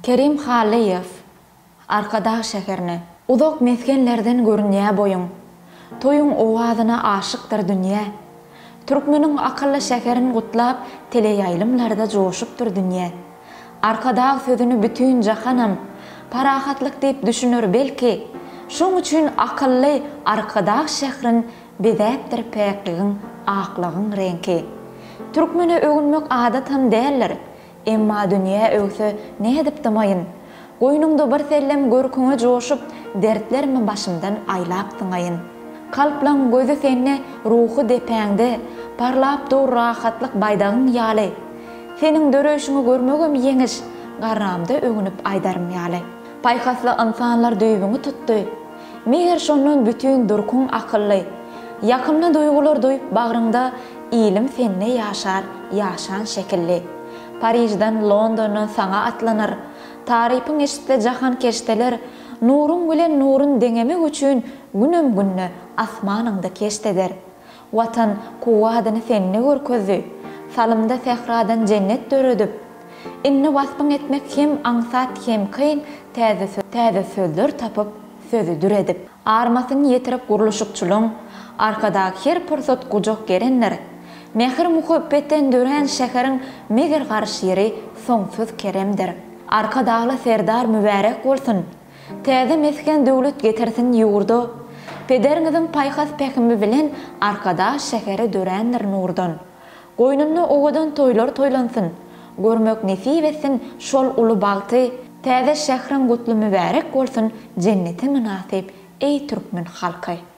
Kerim Hallyýew, Arkadag şäherine. Uzak mesgenlerden görünýä boýuň. Toýuň owazyna aşykdyr dünýä. Türkmeniň akylly şäherin gutlap teleýaýlymlarda joşupdyr dünýä. Arkadag sözüni bütin jahanam parahatlyk diýip düşüner belki, şoň üçin akylly Arkadag şährin bezäpdir päkligiň, aklygyň reňki. Türkmene öwünmek adatam däldir, Emma dünýä öwse, nädip dymaýyn? Goýnuňda birsellem görküňe joşup, dertlerimi başymdan aýlap syňaýyn. Kalplaň gözi sende, ruhy depäňde, parlap dur rahatlyk baýdagyň ýaly. Seniň döreýşiňi görmegem ýeňiş, garramda öwünip aýdarym ýaly. Paýhasly ynsanlar düýbüňi tutdy. Mähir şondan bütin durkuň akylly. Ýakymly duýgular duýup bagryňda Ilim sende ýaşar, ýaşan şekilli. Parižden, Londondan saňa atlanar. Tarypyň eşitse jahan keşdeler, Nuruň bilen nurun deňemek üçin Günem günde asmanyňda keşt eder. Watan kuwwadyny sende görkezdi, Salymda sähradan jennet döredip. Indi waspyň etmek hem aňsat, hem kyn, Täze söz, täze sözler tapyp, sözi dür edip. Armasyny ýetirip gurluşykçylygyň, Arkadag her pursat gujak gerendir. Mähir-muhabbetden dörän şäheriň Meger garşyry soňsuz keremdir. Arkadagly Serdar mübärek bolsun! Täze mesgen döwlet getirsin ýurda, Pederiňiziň paýhas-pähimi bilen Arkadag şäheri dörändir nurdan. Goýnunda owadan toýlar toýlansyn, Görmek nesip etsin şol uly bagty, Täze şähriň gutly-mübärek bolsun Jenneti mynasyp, eý türkmen halky!